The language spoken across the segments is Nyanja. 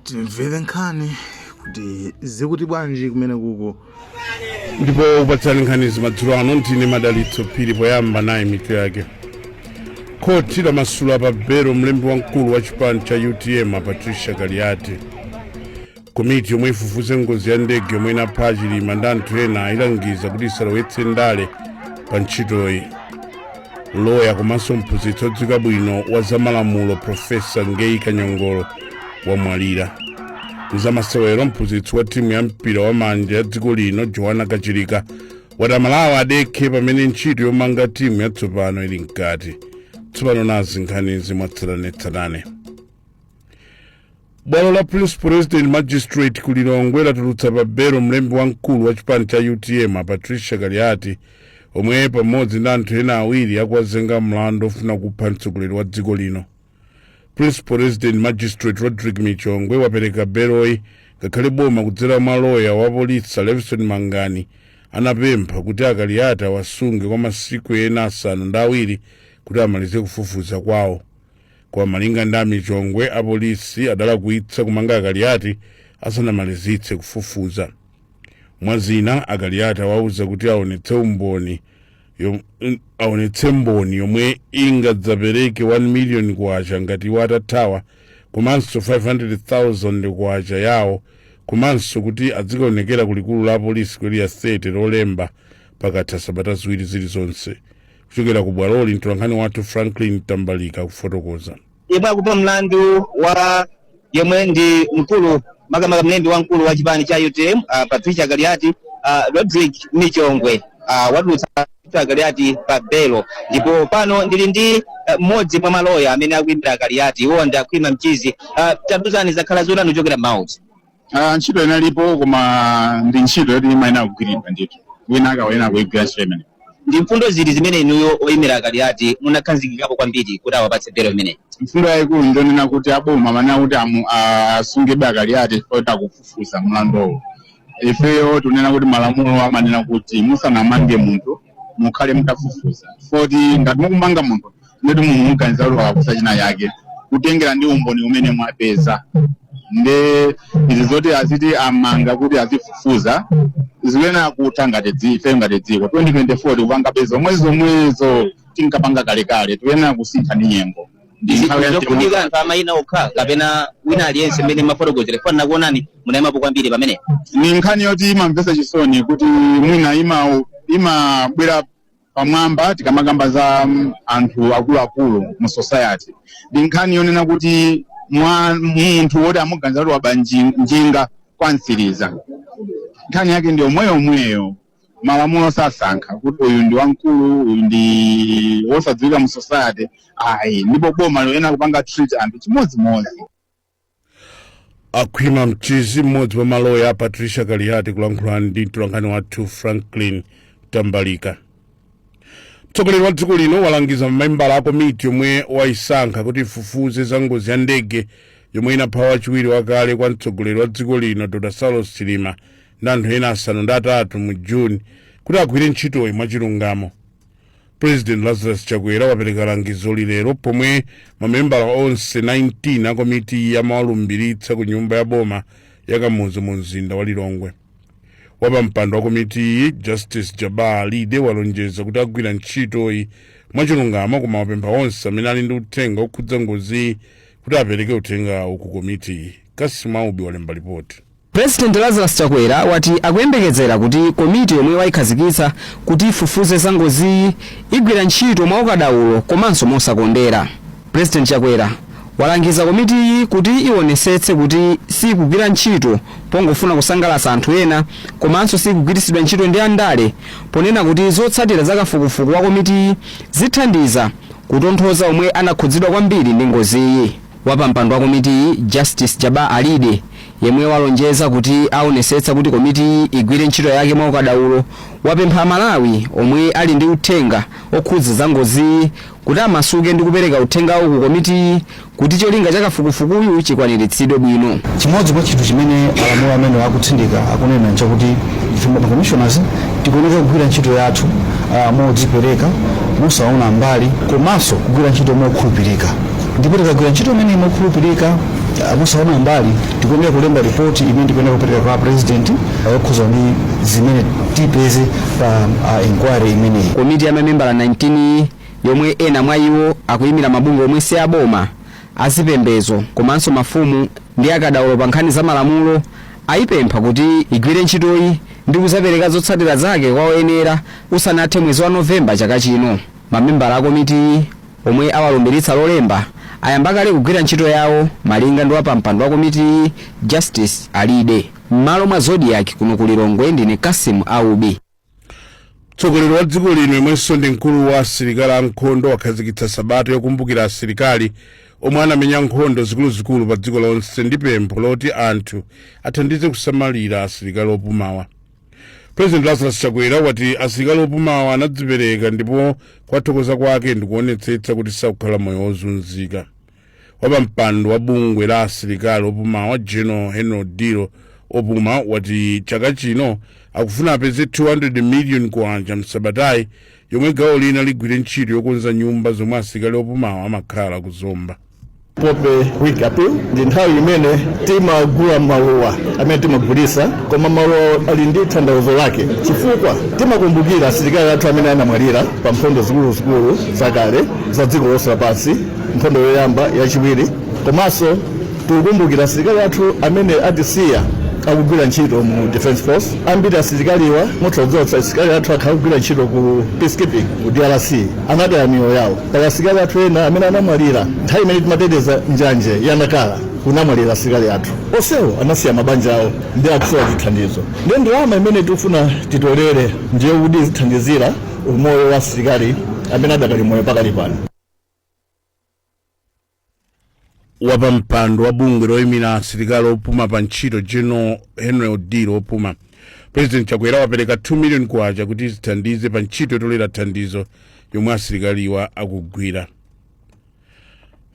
timvere nkhani kuti zikuti bwanji kumene kuko ndipo okupatsani nkhani zimadzulo ano ndine madalitso phiri poyamba nayi mitu yake khoti lamasula pa belo mlembi wamkulu wa chipani cha utm a patricia kaliati komiti yomwe ifufuze ngozi ya ndege yomwe inapha achilima ndi anthu ena ayilangiza kuti isalowetse ndale pa ntchitoyi loya komanso mphunzitsi odziwika bwino wa zamalamulo profesa ngeyi kanyongolo wamwalira mzamasewero mphunzitsi wa timu ya mpira wa manja ya dziko lino joana kachilika wati amalawi adekhe pamene ntchito yomanga timu yatsopano ili mkati tsopano nazi nkhanizi mwatsatanetsatane bwalo la principal resident magistrate ku lilongwe latulutsa pa belo mlembi wamkulu wa chipani cha utm a patricia kaliati omwe pamodzi ndi anthu ena awiri akuwazenga mlandu ofuna kupha mtsogoleri wa dziko lino principal resident magistrate rodrick michongwe wapereka beloyi ngakhale boma kudzera mwa loya wa polisi levison mangani anapempha kuti akaliati awasunge kwa masiku ena asanu ndi awiri kuti amalize kufufuza kwawo Koma malinga ndi a Michongwe, apolisi adalakwitsa kumanga a Kaliati asanamalizitse kufufuza. Mwa zina, a Kaliati awauza kuti aonetse mboni yomwe ingadzapereke 1 million kwacha ngati iwo atathawa komanso 500,000 kwacha yawo komanso kuti adzikaonekera ku likulu la apolisi ku area 30 lolemba pakatha sabata ziwiri zilizonse kuchokera ku bwaloli mtolankhani wathu franklin mtambalika akufotokoza yemwe akumva mlandu wa yemwe ndi mkulu makamaka mlembi wamkulu wa chipani cha utm uh, patricia kaliati uh, rodrick michongwe uh, watulutsa akaliati pa belo ndipo pano ndili ndi eh, mmodzi mwa maloya amene akuimira akaliati iwo ndi akhwima mchizi uh, tatiuzani zakhala zotani kuchokera mkhoti Ah, ntchito inalipo koma ndi ntchito yoti imayenera kugwiridwa ndithu wina akuyenera kuigwira ntchito imene ndi mfundo ziti zimene inuyo oyimira akaliati munakhazikikapo kwambiri kuti awapatse belo imeneyi mfundo yayikulu ndiyonena kuti aboma amanena kuti asungebe akaliati chifukwa kuti akufufuza mlanduwo ifeyo tikunena kuti malamulo amanena kuti musanamange munthu mukhale mutafufuza chifukwa kuti ngati mukumanga munthu ndeti munthu mukuganiza kuti walakwitsa china chake kutengera ndi umboni umene mwapeza nde izi zoti azitimanga kuti azifufuza zikuyenera kutha ngati dzi- ife ngati dziko 2024 tikupangabe zomwezomwezo tinkapanga kalekale tikuyenera kusintha ndi nyengo ndikufunika anthu amayina okha kapena wina aliyense mmene mafotokozera chifukwa ndakuonani munayimapo kwambiri pamene ndi nkhani yoti imamvesa chisoni kuti mwina ima imabwera pamwamba tikamakamba za mm, anthu akuluakulu mu society ndi nkhani yonena kuti munthu woti amuganiza kuti waba njinga kwa msiriza nkhani yake ndi omweyomweyo malamulo sasankha kuti uyu ndi wamkulu uyu ndi wosadziwika mu society ayi ndipo boma liyenera kupanga treat anthu chimodzimodzi khwima mchizi mmodzi wa maloya a patricia kaliyati kulankhula ndi mtolankhani wathu franklin tambalika mtsogoleri wa dziko lino walangiza mamembala a komiti yomwe wayisankha kuti ifufuze za ngozi ya ndege yomwe inapha wachiwiri wakale kwa mtsogoleri wa dziko lino dr saulos chilima ndi anthu ena asanu ndi atatu mu juni kuti agwire ntchitoyi mwachilungamo president lazarus chakwera wapereka langizoli lero pomwe mamembala onse 19 a komitiyi amawalumbiritsa ku nyumba ya boma ya kamuzu mu mzinda wa lilongwe wapampando wa komitiyi justice jabbar alide walonjeza kuti agwira ntchitoyi mwachilungamo koma wapempha onse amene ali ndi uthenga okhudza ngoziyi kuti apereke uthengawo ku komitiyi cassim aubi walemba lipoti President Lazarus Chakwera wati akuyembekezera kuti komiti yomwe wayikhazikitsa kuti ifufuze za ngoziyi igwira ntchito mwaukadaulo komanso mosakondera. President Chakwera walangiza komitiyi kuti iwonetsetse kuti siyikugwira ntchito pongofuna kusangalatsa anthu ena komanso siyikugwiritsidwa ntchito ndi andale ponena kuti zotsatira za kafukufuku wa komitiyi zithandiza kutonthoza omwe anakhudzidwa kwambiri ndi ngoziyi. Wapampando wa komitiyi, Justice Jabbar Alide, yemwe walonjeza kuti aonetsetsa kuti komitiyi igwire ntchito yake mwaukadaulo, wapempha Amalawi omwe ali ndi uthenga okhudza za ngoziyi kuti amasuke ndi kupereka uthengawo ku komitiyi kuti cholinga cha kafukufukuyu chikwaniritsidwe bwino. Chimodzi mwa chinthu chimene malamulo amenewa akutsindika akunena nchakuti ife ma commissioners tikuyeneka kugwira ntchito yathu ah, modzipereka mosaona mbali komanso kugwira ntchito mokhulupirika. Ndipo tikagwira ntchito imeneyi mokhulupirika, ah, mosaona mbali, tikuyenera kulemba ripoti imene tikuyenera kupereka kwa a president ah, yokhudzana ndi zimene tipeze pa ah, inquiry imeneyi. Komiti ya mamembala 19 yi, yomwe ena mwa iwo akuimira mabungwe omwe si aboma, azipembedzo komanso mafumu ndi akadaulo pa nkhani za malamulo, ayipempha kuti igwire ntchitoyi ndi kudzapereka zotsatira zake kwa oyenera usanathe mwezi wa November chaka chino. Mamembala a komitiyi, omwe awalumbiritsa Lolemba, ayamba kale kugwira ntchito yawo, malinga ndi wapampando wa komitiyi, Justice Alide. M'malo mwa Zodiak, kuno ku Lilongwe ndine Cassim Aubi. Mtsogoleri wa dziko lino yemwenso ndi mkulu wa asilikali ankhondo wakhazikitsa sabata yokumbukira asilikali omwe anamenya nkhondo zikuluzikulu pa dziko lonse ndi pempho loti anthu athandize kusamalira asilikali opumawa. president lazarus chakwera wati asilikali opumawa anadzipereka ndipo kuwathokoza kwake ndikuonetsetsa kuti sakukhala moyo wozunzika wapampando wa bungwe la asilikali opumawa general henry odilo opuma wati chaka chino akufuna apeze 200 million kwacha msabatayi yomwe gawo lina ligwire ntchito yokonza nyumba zomwe asilikali opumawa amakhala kuzomba poppy week appeal ndi nthawi imene timagula maluwa amene timagulisa koma maluwa ali ndi tanthauzo lake chifukwa timakumbukira asilikali athu amene anamwalira pa nkhondo zikuluzikulu zakale za dziko lonse lapansi nkhondo yoyamba yachiwiri komanso tikukumbukira asilikali athu amene atisiya akugwira ntchito mu defense force ambiri asilikaliwa mutha kudziwa kuti asilikali athu akhala akugwira ntchito ku peacekeeping ku drc anataya miyoyo yawo Pali asilikali athu ena amene anamwalira nthawi imene timateteza njanje ya Nacala kunamwalira asilikali athu. Onsewo anasiya mabanja awo ndi akusowa chithandizo. Ndiye ndalama imene tikufuna titolere ndi yokuti zithandizire umoyo wa asilikali amene adakali moyo pakali pano. wapampando wa bungwe loyimira asilikali opuma pa ntchito general henry odilo opuma president chakwera wapereka 2 million kwacha kuti zithandize pa ntchito yotolera thandizo yomwe asilikaliwa akugwira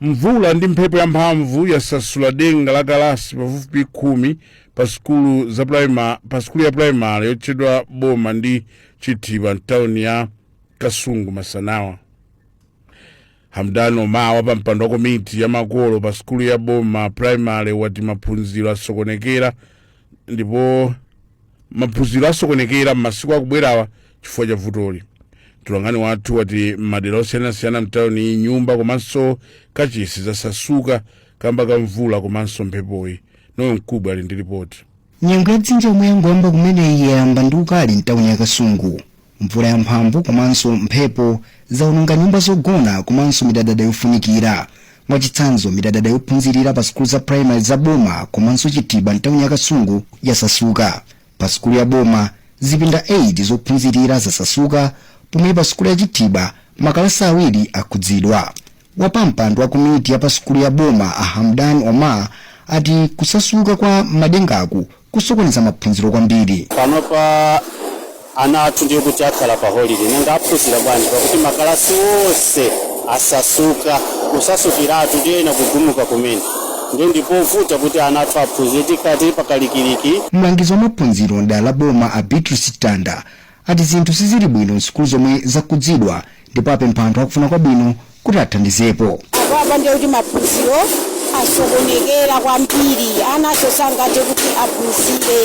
mvula ndi mphepo yamphamvu yasasula denga la kalasi pafupifupi khumi pa sukulu za primary pa sukulu ya primary yotchedwa boma ndi chithiba mtawuni ya kasungu masanawa Hamdan Omar wapampando wa komiti ya makolo pa sukulu ya Boma Primary wati maphunziro asokonekera ndipo maphunziro asokonekera m'masiku akubwerawa chifukwa cha vutoli. Mtolankhani wathu wati m'madera osiyanasiyana mtawuni nyumba komanso kachisi zasasuka kamba ka mvula komanso mphepoyi. Noel Mkubwi ali ndi lipoti. Nyengo ya dzinja yomwe yangoyamba kumeneyi yayamba ndi ukali mtawuni ya Kasungu. Mvula yamphamvu komanso mphepo zawononga nyumba zogona komanso midadada yofunikira. Mwachitsanzo, midadada yophunzirira pa sukulu za primary za boma komanso Chithiba mtawuni ya Kasungu yasasuka. Pa sukulu ya boma, zipinda 8 zophunzirira zasasuka pomwe pa sukulu ya Chithiba makalasi awiri akhudzidwa. Wapampando wa komiti ya pa sukulu ya boma a Hamdan Omar ati kusasuka kwa madengaku kusokoneza maphunziro kwambiri. panopa ana athu ndiye kuti akhala pa holiday nanga aphunzira bwanji pakuti makalasi onse asasuka kusasukiratu ndiye ena kugumuka kumene ndiye ndipovuta kuti ana athu aphunzire tikhala tili pakalikiliki Mlangizi wa maphunziro m'dera la boma a Beatrice Tanda ati zinthu sizili bwino m'sukulu zomwe zakhudzidwa ndipo apempha anthu akufuna kwabwino kuti athandizepo apa ndiye kuti maphunziro asokonekera kwambiri ananso sangathe kuti aphunzire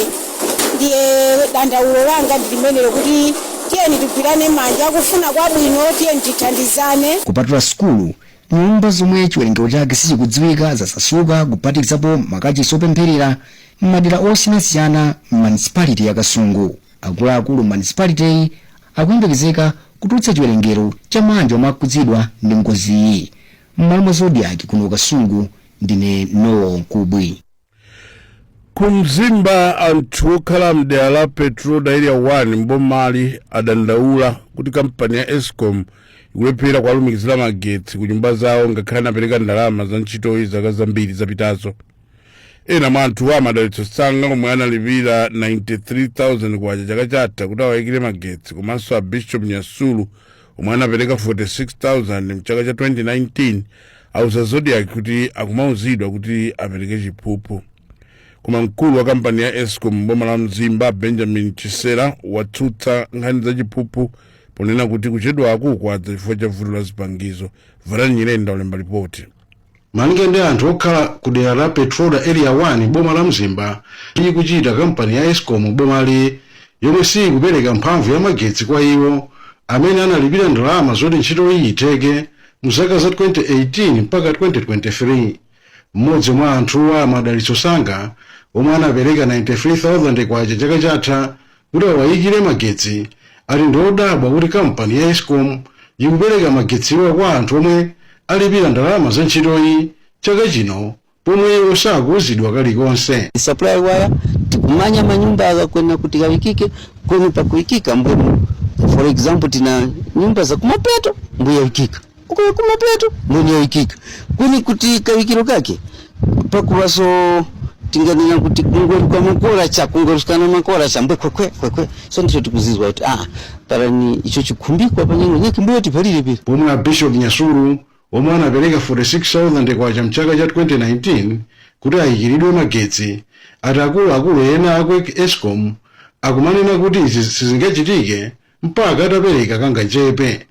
ndiye dandaulo langa ndi limenelo kuti tiyeni tigwirane manja akufuna kwabwino tiyeni tithandizane kupatula sukulu nyumba zomwe chiwerengero chake sichikudziwika zasasuka kuphatikizapo makachisi opempherera m'madera osiyanasiyana m'manisipaliti ya kasungu Akuluakulu m'manisipaliteyi akuyembekezeka kutulutsa chiwerengero cha maanja omwe akhudzidwa ndi ngoziyi. M'malo mwa Zodiak kuno ku Kasungu ndine Noel Mkubwi. Ku Mzimba anthu okhala m'dera la Petroda Area 1 m'bomali adandaula kuti kampani ya Escom ikulephera kuwalumikizira magetsi ku nyumba zawo ngakhale anapereka ndalama za ntchitoyi zaka zambiri zapitazo. ena mwa anthuwa a madalitso sanga omwe analipira 93,000 kwacha chaka chatha kuti awayikire magetsi komanso a bishop nyasulu omwe anapereka 46,000 mchaka cha 2019 auza zodiak kuti akumauzidwa kuti apereke chiphuphu koma mkulu wa kampani ya escom m'boma la mzimba a benjamin chisera watsutsa nkhani za chiphuphu ponena kuti kuchedwaku kwadza chifukwa cha vuto la zipangizo varani nyirenda ulemba lipoti Malinga ndi anthu okhala ku dera la Petroda Area 1 m'boma la Mzimba, ndi ikuchita kampani ya Escom m'bomali yomwe siikupereka mphamvu ya magetsi kwa iwo amene analipira ndalama zoti ntchitoyi itheke mu zaka za 2018 mpaka 2023. M'modzi mwa anthuwa a Madalitso Sanga omwe anapereka K93,000 chaka chatha, kuti awayikire magetsi ati ndiodabwa kuti kampani ya escom ikupereka magetsiwa kwa anthu omwe alipira ndalama za ntchitoyi chaka chino pomwe iwo sakuuzidwa kalikonse. supply ya waya tikumanya manyumba waka kweni kuti kawikike kweni pakuŵikika mbwenu for example tina nyumba za kumapeto mbwe yaŵikika uko kumapeto mbwenu yaŵikika kweni kuti kawikiro kake pakuvaso tinganena kuti kukulongosoka makora cha kungorukana makora cha mbwe kwekwe kwekwe so ndicho tikuzizwa kuti ah pulani icho chikhumbikwa panyake mbuyo tikabwalire piri pomwe a bishop nyasulu omwe anapereka 46000 kwacha mchaka cha 2019 kuti ayikiridwe magetsi ati akuluakulu ena aku escom akumanena kuti izi sizingachitike mpaka atapereka kangachepe.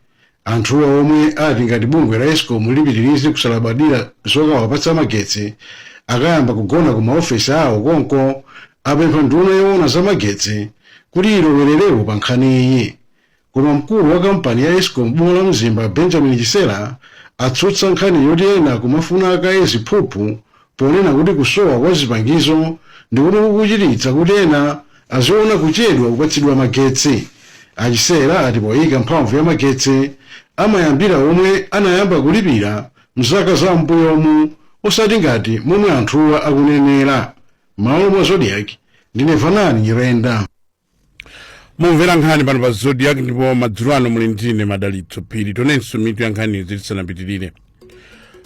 Anthuwa omwe ati ngati bungwe la Escom lipitiriza kusalabadira zokawapatsa magetsi, akayamba kugona ku maofesi awo konko, apempha nduna yoona za magetsi kuti ilowererepo pa nkhaniyi. Koma mkulu wa kampani ya Escom m'boma la Mzimba Benjamin Chisera atsutsa nkhani yoti ena akumafuna kaye ziphuphu ponena kuti kusowa kwa zipangizo ndi komwe kukuchititsa kuti ena aziona kuchedwa kupatsidwa magetsi. A Chisera ati poika mphamvu ya magetsi amayambira omwe anayamba kulipira mzaka za m'mbuyomu osati ngati momwe anthuwa akunenera. M'malo mwa Zodiak, ndine Vanani Nyirenda. mumvera nkhani pano pa zodiak ndipo madzulo ano muli ndi ine madalitso phiri tionenso mitu ya nkhanizi tisanapitirire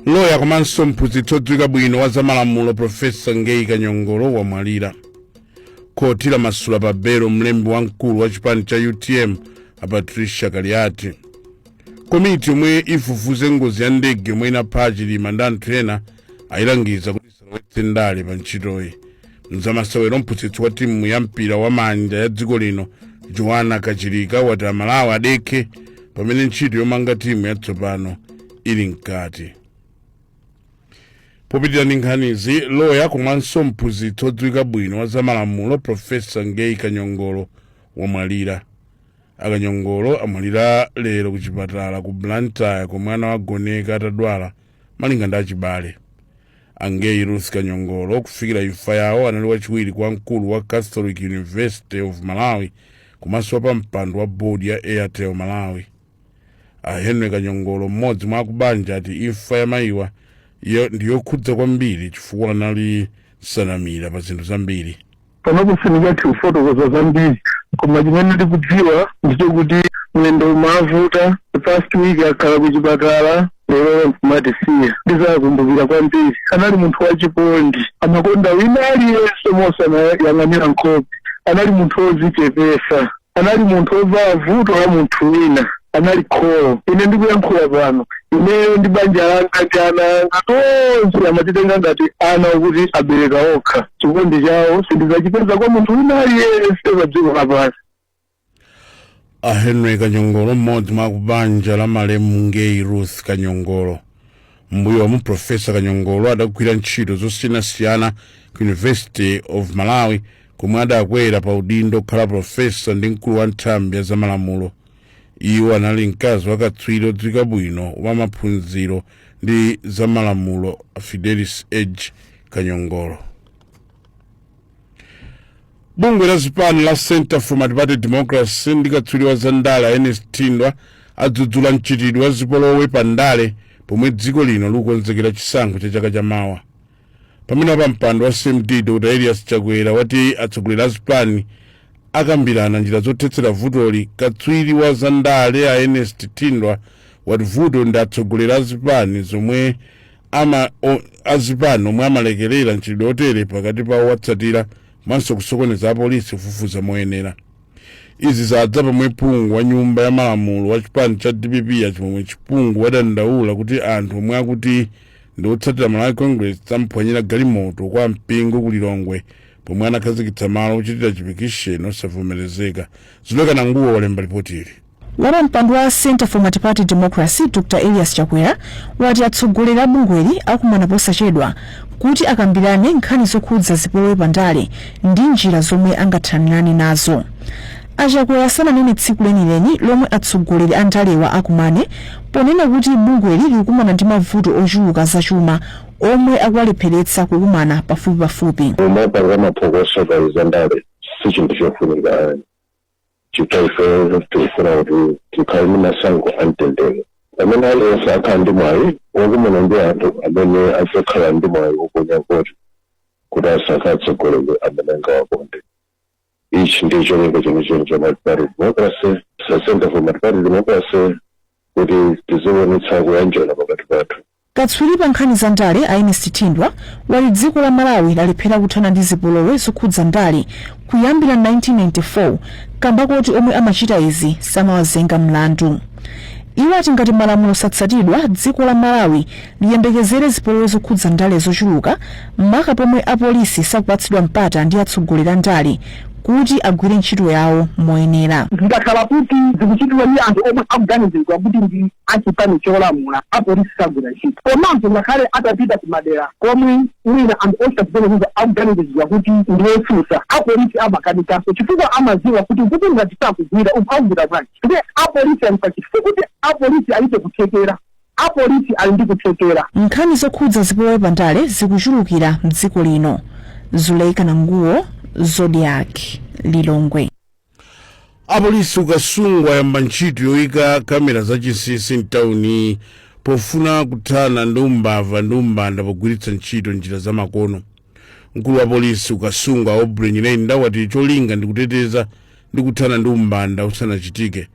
loya komanso mphunzitsi odziwika bwino wa zamalamulo profesa ngeyi kanyongolo wamwalira khoti lamasula pa belo mlembi wamkulu wa chipani cha utm a patricia kaliati komiti yomwe ifufuze ngozi ya ndege yomwe inapha a chilima ndi anthu ena ayilangiza kuti isalowetse ndale pa ntchitoyi mzamasewero mphunzitsi wa timu ya mpira wa manja ya dziko lino joanna kachilika wati amalawi adekhe pamene ntchito yomanga timu yatsopano ili mkati popitirira ndi nkhanizi loya komanso mphunzitsi odziwika bwino wa zamalamulo profesa ngeyi kanyongolo wamwalira akanyongolo amwalira lero ku chipatala ku blantyre komwe anawagoneka atadwala malinga ndi achibale a ngeyi ruth kanyongolo kufikira imfa yawo anali wachiwiri kwa mkulu wa catholic university of malawi komanso wapampando wa board ya airtel malawi a henry kanyongolo mmodzi mwa akubanja ati imfa ya mayiwa ndi yokhudza kwambiri chifukwa anali nsanamira pa zinthu zambiri panopo sindingathe kufotokoza zambiri koma chimene ndikudziwa ndicho kuti mwendo umawavuta the past week akhala ku chipatala lero nkumatisiya ndizawakumbukira kwambiri anali munthu wachikondi amakonda wina aliyense mosanayang'anira nkhope anali munthu wodzichepetsa Anali munthu wovala vuto la munthu wina. Anali kholo. Ine ndikuyankhula pano, ineyo ndi banja langa ndi ana anga tonse amatitenga ngati ana okuti abereka okha. Chikondi chawo sindidzachipeza kwa munthu wina aliyense pa dziko lapansi. a henry kanyongolo mmodzi mwa akubanja la malemu ngeyi ruth kanyongolo m'mbuyomu profesa kanyongolo adagwira ntchito zosiyanasiyana ku university of malawi komwe adakwera pa udindo kukhala profesa ndi mkulu wa nthambi ya zamalamulo iwo anali mkazi wa katswiri odziwika bwino wa maphunziro ndi zamalamulo a fidelis edge kanyongolo bungwe la zipani la centre for multiparty democracy ndi katswiri wa za ndale a ernest thindwa adzudzula mchitidwe wa zipolowe pa ndale pomwe dziko lino likukonzekera chisankho cha chaka cha mawa pamene wapampando wa cmd dr elias chakwera wati atsogoleri a zipani akambirana njira zothetsera vutoli katswiri wa za ndale a ernest thindwa wati vuto ndi atsogoleri a zipani zomwe ama o, azipani omwe amalekerera mchitidwe otere pakati pa owatsatira komanso kusokoneza apolisi kufufuza moyenera izi zadza pomwe phungu wa nyumba ya malamulo wa chipani cha dpp a Chimwemwe Chipungu wadandaula kuti anthu omwe akuti ndi otsatira malawi congress amphwanyira galimoto kwa mpingo ku lilongwe pomwe anakhazikitsa malo ochitira chipikisheni osavomerezeka Zuleika Nanguwo walemba lipotili Wapampando wa Centre for Multiparty Democracy Dr Elias Chakwera wati atsogoleri a bungweli akumana posachedwa kuti akambirane nkhani zokhudza zipolowe pa ndale ndi njira zomwe angathanirane nazo. Achakwera sananene tsiku lenileni lomwe atsogoleri a ndalewa akumane ponena kuti bungweli likukumana ndi mavuto ochuluka azachuma omwe akuwalepheretsa kukumana pafupipafupi. Kumapanga maphokoso pa zandale si chinthu chofunika ayi. chifukwa ifeyo tifuna kuti tikhale ndi masankho amtendere pamene aliyense akhala ndi mwayi wokumana ndi anthu amene adzakhala ndi mwayi woponya voti kuti asankhe atsogoleri amene angawakonde ichi ndi cholinga chenicheni cha multiparty democracy so center for multiparty democracy kuti tiziwonetsa kuyanjana pakati pathu Katswiri pa nkhani za ndale a Ernest Thindwa wati dziko la Malawi lalephera kuthana ndi zipolowe zokhudza ndale kuyambira 1994 kamba koti omwe amachita izi samawazenga mlandu. Iwo ati ngati malamulo satsatidwa, dziko la Malawi liyembekezere zipolowe zokhudza ndale zochuluka maka pomwe apolisi sakupatsidwa mpata ndi atsogoleri a ndale kuti agwire ntchito yawo moyenera. zikakhala kuti zikuchitidwa ndi anthu omwe akuganiziridwa kuti ndi. a chipani cholamula, apolisi sagwira ntchito. Komanso ngakhale atapita kumadera komwe mwina anthu ochita zimenezizo akuganiziridwa kuti ndi otsutsa, apolisi amakanikanso chifukwa amadziwa kuti uku ngati sakugwira, uku akugwira bwanji? Ndiye apolisi ali panja sikuti apolisi alibe kuthekera. Apolisi ali ndi kuthekera. Nkhani zokhudza zipolowe pa ndale zikuchulukira m'dziko lino. Zuleika Nanguwo, Zodiak, Lilongwe. apolisi ku kasungu ayamba ntchito yoyika kamera zachinsinsi mtawuni pofuna kuthana ndi umbava ndi umbanda pogwiritsa ntchito njira zamakono mkulu wa polisi ku kasungu a aubrey nyirenda wati cholinga ndi kuteteza ndi kuthana ndi umbanda usanachitike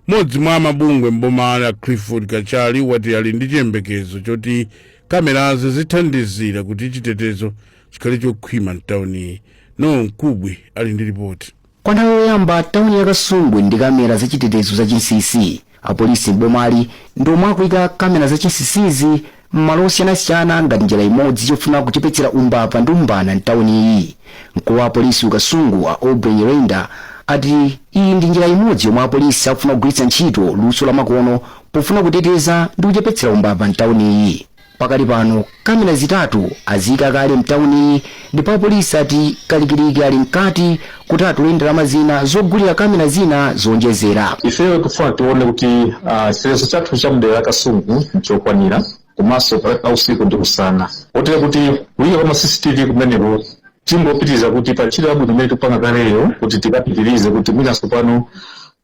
mmodzi mwa amabungwe mbomali a clifford kachali wati ali ndi chiyembekezo choti kamerazi zithandizira kuti chitetezo chikhale chokhwima mtawuni noel mkubwi ali ndi lipoti kwa nthawi yoyamba tawuni ya kasungu ili ndi kamera zachitetezo za chinsinsi apolisi m'bomali ndi omwe akuika kamera za chinsinsizi m'malo osiyanasiyana ngati njira imodzi yofuna kuchepetsera umbava ndi umbanda mtawuniyi mkulu wa apolisi ku kasungu a aubrey nyirenda ati iyi ndi njira imodzi yomwe apolisi akufuna kugwiritsa ntchito luso lamakono pofuna kuteteza ndi kuchepetsera umbava mtawuniyi Pakali pano kamera zitatu aziika kale mtauniyi ndipo apolisi ati kalikiliki ali mkati kuti atole ndalama zina zogulira kamera zina zoonjezera. Ifeyo tikufuna tione kuti chitetezo chathu cha mdera la Kasungu nchokwanira komanso pakati pa usiku ndi usana kotero kuti kuika kwa ma CCTV kumeneku tingopitiriza kuti pa ntchito yabwino imene tikupanga kaleyo kuti tikapitirize kuti mwina tsopano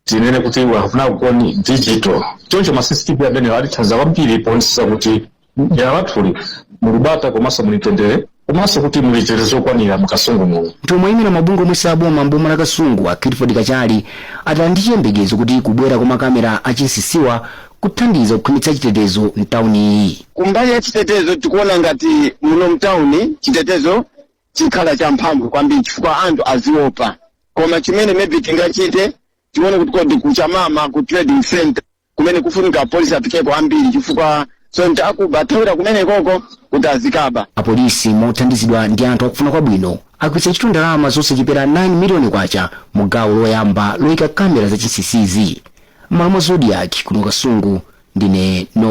tinene kuti akufuna kukoni digital choncho ma cctv amenewo atithandiza kwambiri poonetsetsa kuti dera lathuli muli bata komanso muli mtendere komanso kuti muli chitetezo chokwanira mukasungu muno mtsogoleri wa mabungwe omwe saboma mboma la kasungu a clifford kachali ati ali ndi chiyembekezo kuti kubwera kwa makamera achinsisiwa kuthandiza kukhwimitsa chitetezo mtawuniyi kumbali ya chitetezo tikuona ngati muno mtawuni chitetezo chikhala champhamvu kwambiri chifukwa anthu aziopa koma chimene maybe tingachite tione kuti kodi kuchamama ku trading center kumene kufunika apolisi afikeko ambiri chifukwa zoonadi akuba athawira kumenekoko kuti azikaba apolisi mothandizidwa ndi anthu akufuna kwabwino agwiritsa ntchito ndalama zosachepera 9 miliyoni kwacha mu gawo loyamba loyika kamera zachinsinsizi m'malo mwa zodiac kuno kasungu ndine no